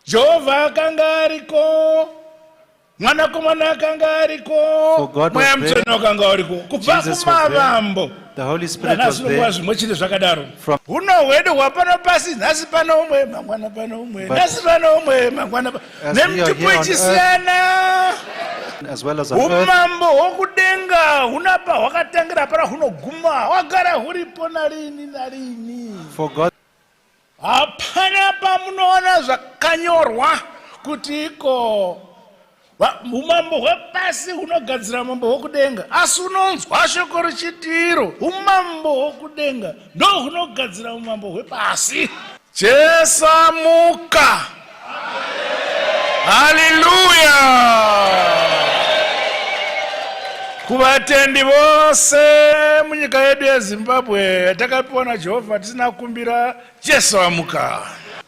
Jehovha akanga ariko, Mwanakomana akanga ariko, Mweya Mutsvene wakanga uriko kubva kumavambo. Nanasinokuva zvimwe chete zvakadaro. Huno hwedu hwapano pasi, nhasi pano umwe, mangwana pano umwe, nhasi pano umwe, mangwana pano nemitupo ichisiyana. Umambo hwokudenga huna pahwakatangira, hapana hunoguma, hwagara huripo narini narini. Hapana pamunoona zvakanyorwa kuti iko umambo hwepasi hunogadzira umambo hwokudenga asi unonzwa shoko richitiro umambo hwokudenga ndohunogadzira umambo hwepasi jesamuka haleluya kuvatendi vose munyika yedu yezimbabwe yatakapiwa najehovha tisina kukumbira jesu amuka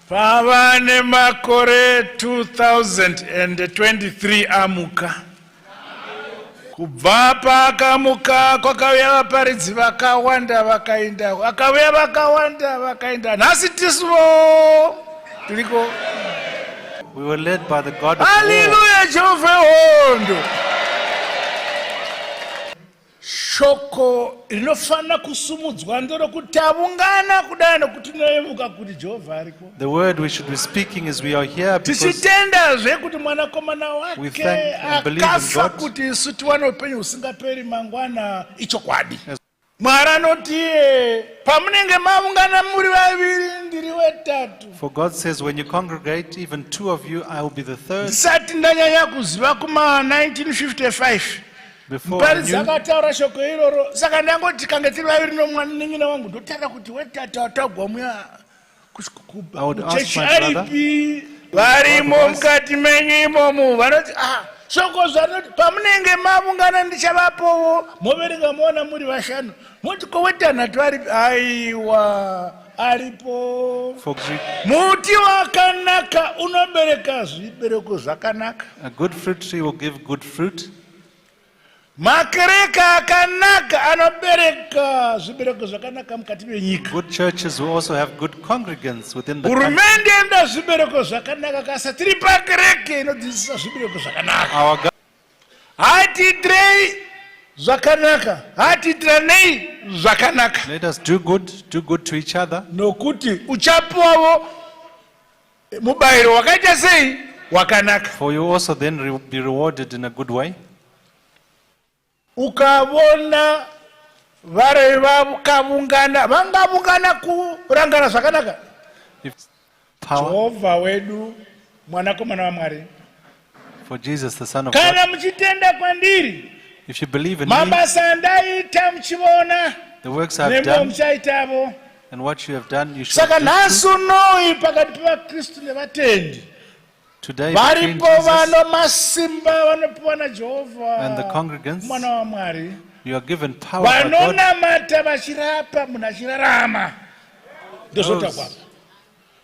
pava nemakore 2023 amuka kubva paakamuka kwakauya vaparidzi vakawanda vakaenda akauya vakawanda vakaenda nhasi tisuvo tiriko We were led by the God of Hallelujah, Jehovah hondo. Shoko rinofanira kusumudzwa nderokuti avungana kudai nokuti tinoyemuka kuti Jehovha ariko. The word we should be speaking is we are here because tichitendazve kuti mwanakomana wake akafa kuti isu tiwane upenyu husingaperi mangwana ichokwadi. Mwari anoti iye pamunenge mavungana muri vaviri ndiri wetatu. For God says when you congregate even two of you I will be the third. Ndisati ndanyanya kuziva kuma 1955. muparidzi akataura shoko iroro saka ndangoti kange tiri vaviri nomwanin'ina wangu ndotaura kuti wetata watagwa muya kuchechi aripi varimo mukati menyu imomo vanoti ah shoko zvanoti pamunenge mavungana ndichavapowo moverenga moona muri vashanu moti kowetanhatu varipi aiwa aripo muti wakanaka unobereka zvibereko zvakanaka makereka akanaka anobereka zvibereko zvakanaka mukati menyika hurumende enda zvibereko zvakanaka kasa tiri pakereke inodzidzisa zvibereko zvakanaka hatiitirei zvakanaka hatiitiranei zvakanaka nokuti uchapiwavo Mubayiro wakaita sei? Wakanaka. For you also then re be rewarded in a good way. Ukavona vari vakavungana vangavungana kurangana zvakanaka. Jehovha wedu mwanakomana waMwari. For Jesus, the Son of kana God, muchitenda kwandiri if you believe in me, mabasa andaita muchiona the works I've nemwewo done muchaitavo and what you have done, you shall saka do. nhasi too. unoi pakati pevakristu nevatendi Today, between varipo Jesus vano masimba vanopiwa and the najehovha congregants, mwana wamwari you are given power by God. vanonamata vachirapa munhu achirarama ndozvotaurwa Those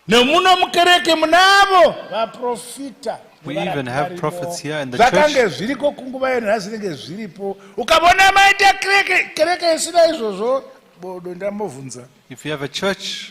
nemuno mukereke munavo vaprofita We even have prophets here in the church. zvakange zviriko kunguva yenhasi ringe zviripo ukavona maita kereke isina izvozvo bodo ndambovhunza if you have a church